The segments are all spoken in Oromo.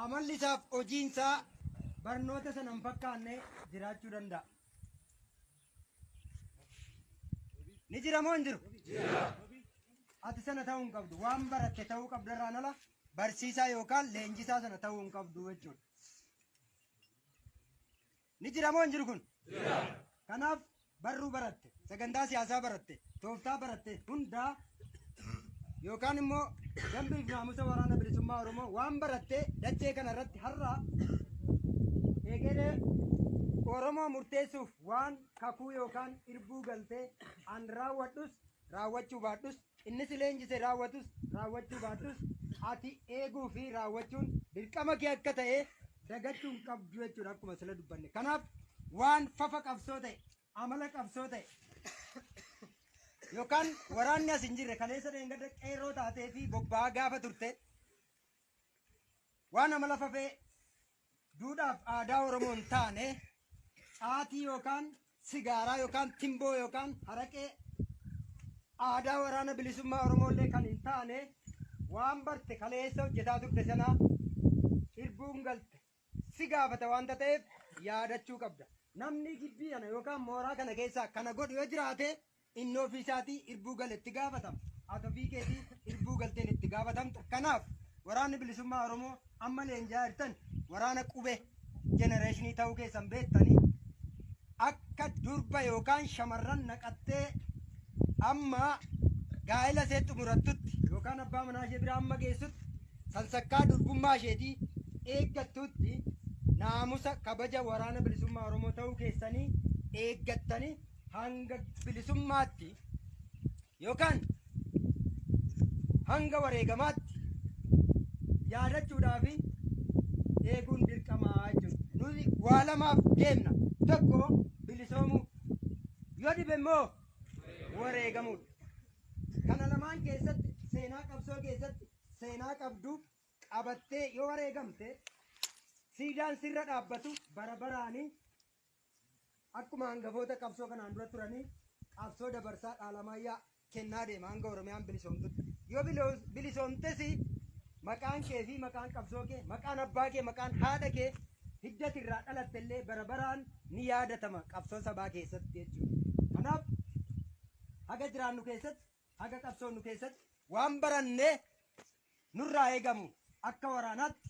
Amalli isaaf hojiin isaa barnoota sana hin fakkaanne jiraachuu danda'a. Ni jira moo hin jiru? Ati sana ta'uu hin qabdu. Waan baratte ta'uu qabda irraan ala barsiisaa yookaan leenjisaa sana ta'uu hin qabdu jechuudha. Ni jira moo hin jiru kun? Jira. Kanaaf barruu baratte, sagantaa siyaasaa baratte, tooftaa baratte hundaa yookaan immoo dambiif naamusa waraana bilisummaa Oromoo waan baratte dachee kana irratti har'a egeree Oromoo murteessuuf waan kakuu yookaan irbuu galtee an raawwadhus raawwachuu baadhus Inni si leenjise raawwatus raawwachuu baattus ati eeguu fi raawwachuun dirqama kee akka ta'e dagachuu hin qabdu jechuudha akkuma sila dubbanne. Kanaaf waan fafa qabsoo ta'e, amala qabsoo ta'e yookaan waraanni as hin jirre kaleessa dheengadda qeerroo taatee fi bobba'aa gaafa turte waan amala fafee Duudhaaf aadaa Oromoo hin taane caatii yookaan sigaaraa yookaan timboo yookaan haraqee aadaa waraana bilisummaa Oromoo illee kan hin taane waan barte kaleessa hojjetaa turte sanaa irbuun galte si gaafata waanta ta'eef yaadachuu qabda. Namni gibbii kana yookaan mooraa kana keessaa kana godhu yoo jiraate Inni ofii isaatii irbuu gale itti gaafatama. Ati ofii keetii irbuu galteen itti gaafatamta. Kanaaf waraanni bilisummaa Oromoo amma leenji'aa jirtan waraana qubee jenereeshinii ta'uu keessan beektanii akka durba yookaan shamarran naqattee amma gaa'ela ishee xumurattutti yookaan abbaa manaa ishee bira amma geessutti sansakkaa durbummaa isheetii eeggattutti naamusa kabaja waraana bilisummaa Oromoo ta'uu keessanii eeggattanii hanga bilisummaatti yookaan hanga wareegamaatti yaadachuudhaa fi eeguun dirqamaa jechuudha. Nuti waa lamaaf deemna. Tokko bilisoomuu. Yoo dhibe immoo wareegamuudha. Kana lamaan keessatti seenaa qabsoo keessatti seenaa qabdu qabattee yoo wareegamte siidaan sirra dhaabbatu bara baraanii Akkuma hangafoota qabsoo kanaan dura turanii qabsoo dabarsaa dhaalamaayyaa kennaa deema hanga Oromiyaan bilisoomtutti. Yoo bilo- bilisoomtes maqaan kee fi maqaan qabsoo kee, maqaan abbaa kee, maqaan haadha kee hiddati irraa dhalatte illee bara baraan ni yaadatama qabsoo sabaa keessatti jechuudha. Kanaaf haga jiraannu keessatti Haga qabsoonnu keessatti waan barannee nurraa eegamu akka waraanaatti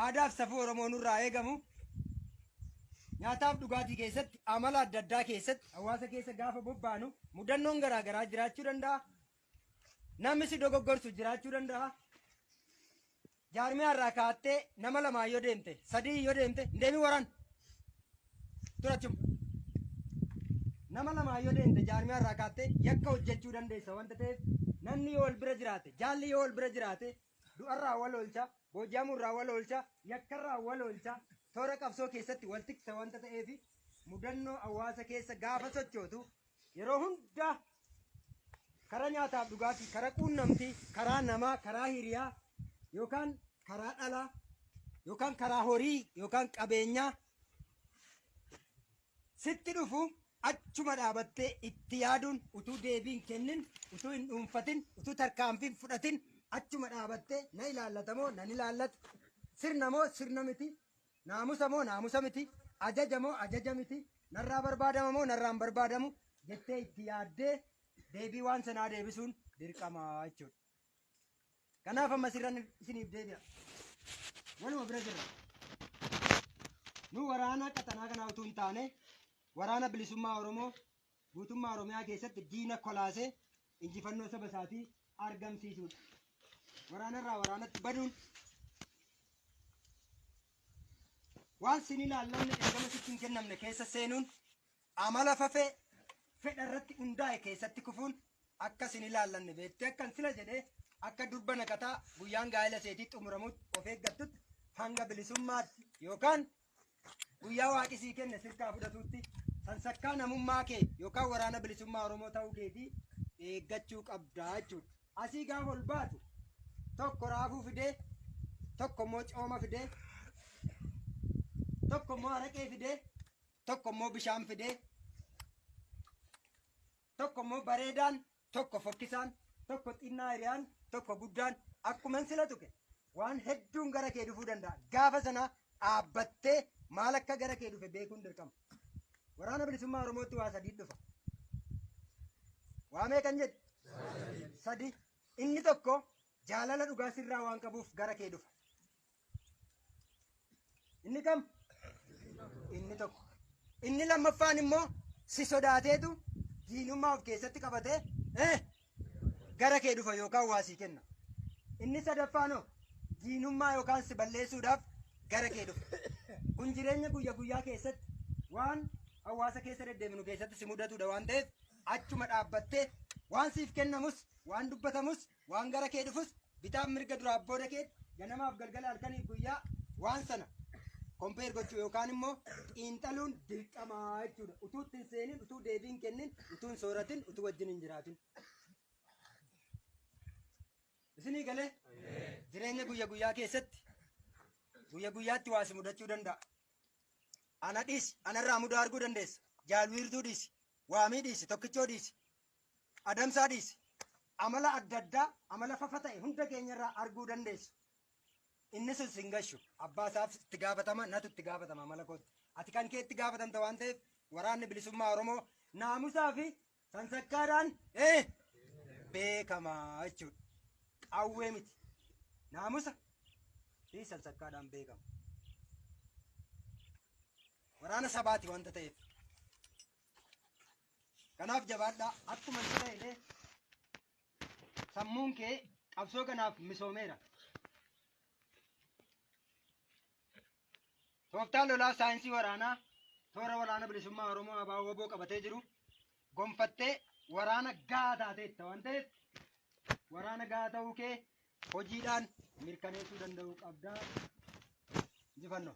aadaaf safuu Oromoo nurraa eegamu nyaataaf dhugaatii keessatti amala adda addaa keessatti hawaasa keessa gaafa bobbaanu mudannoon garaa garaa jiraachuu danda'a. Namni si dogoggorsu jiraachuu danda'a. Jaarmiyaa irraa kaattee nama lamaan yoo deemte, sadii yoo deemte, hin deemin waraan. Turachuma. Nama lamaan yoo deemte jaarmiyaa irraa kaattee yakka hojjechuu dandeessa wanta ta'eef namni yoo wal bira jiraate, jaalli yoo wal bira jiraate du'arraa wal oolcha, booji'amuurraa wal oolcha, yakkarraa wal oolcha, toora qabsoo keessatti wal tiksa wanta ta'eef mudannoo hawaasa keessa gaafa sochootu Yeroo hunda karaa nyaataaf dhugaatii, karaa quunnamtii, karaa namaa, karaa hiriyaa yookaan karaa dhalaa yookaan karaa horii yookaan qabeenyaa sitti dhufu achuma dhaabattee itti yaaduun utuu deebii hin kennin, utuu hin dhuunfatin, utuu tarkaanfii hin fudhatin achuma dhaabattee na ilaallata moo nan ilaallatu, sirna moo sirna miti, Naamusa moo naamusa miti, ajaja moo ajaja miti, narraa barbaadama moo narraa hin barbaadamu jettee itti yaaddee deebii waan sanaa deebisuun dirqama jechuudha. Kanaaf amma sirran isiniif deebi'a. Waluma bira jirra. Nu waraana qaxanaa kanaa utuu hin taane waraana bilisummaa Oromoo Guutummaa Oromiyaa keessatti diina kolaasee injifannoo saba isaatii argamsiisuudha. Waraanarraa waraanatti baduun waan sin ilaallanne ergama sitti hin kennamne keessa seenuun amala fafee fedha irratti hundaa'e keessatti kufuun akka sin ilaallanne beektee akkan sila jedhee akka durba naqataa guyyaan gaa'ela seetii xumuramutti of eeggattutti hanga bilisummaatti yookaan Guyyaa waaqi sii kenne sirkaa fudhatuutti sansakkaa namummaa kee yookaan waraana bilisummaa Oromoo ta'uu keetii eeggachuu qabdaa jechuudha. Asii gaafa ol baatu tokko raafuu fidee tokko immoo cooma fidee tokko immoo araqee fidee tokko immoo bishaan fidee tokko immoo bareedaan tokko fokkisaan, tokko xinnaa hiriyaan, tokko guddaan akkuman sila tuqe waan hedduun gara kee dhufuu danda'a. Gaafa sana dhaabbattee maal akka gara kee dhufe beekuun dirqama. Waraana bilisummaa Oromootti waa sadii dhufa. Waa meeqan jedhe? Sadi. Inni tokko jaalala dhugaa sirraa waan qabuuf gara kee dhufa. Inni kam? Inni tokko. Inni lammaffaan immoo si sodaateetu diinummaa of keessatti qabatee eh, gara kee dhufa yookaan waa sii kenna. Inni sadaffaan hoo diinummaa yookaan si balleessuudhaaf gara kee dhufa. Kun jireenya guyya guyyaa keessatti waan hawaasa keessa deddeebinu keessatti si mudatudha waan ta'eef achuma dhaabbattee waan siif kennamus waan dubbatamus Waan gara kee dhufus bitaaf mirga duraaf booda keetti ganamaaf galgala halkaniif guyyaa waan sana kompeer gochuu yookaan immoo xiinxaluun dirqamaa jechuudha. Utuu itti hin seenin, utuu deebii hin kennin, utuu hin sooratin, utuu wajjin hin jiraatin. Isinii galee jireenya guyya guyyaa keessatti guyya guyyaatti waa si mudachuu danda'a. Ana dhiisi, anarraa mudaa arguu dandeessa. Jaalwiirtuu dhiisi, waamii dhiisi, tokkichoo dhiisi. adamsaa dhiisi. Amala adda addaa, amala fafa ta'e hunda keenyarraa arguu dandeessu. Inni sun sin gashu. Abbaa isaaf itti gaafatama, natu itti gaafatama amala kootti. Ati kan kee itti gaafatamta waan ta'eef waraanni bilisummaa Oromoo naamusaa fi sansakkaadhaan ee beekama jechuudha. Qawwee miti. Naamusa fi sansakkaadhaan beekama. Waraana sabaati wanta ta'eef. Kanaaf jabaadhaa akkuma itti ta'e illee sammuun kee qabsoo kanaaf misoomeera. Tooftaan lolaa saayinsii waraanaa toora waraana bilisummaa Oromoo abaa waboo qabatee jiru gonfattee waraana gahaa taateetta waan ta'eef waraana gahaa ta'uu kee hojiidhaan mirkaneessuu danda'uu qabdaa. Injifannoo.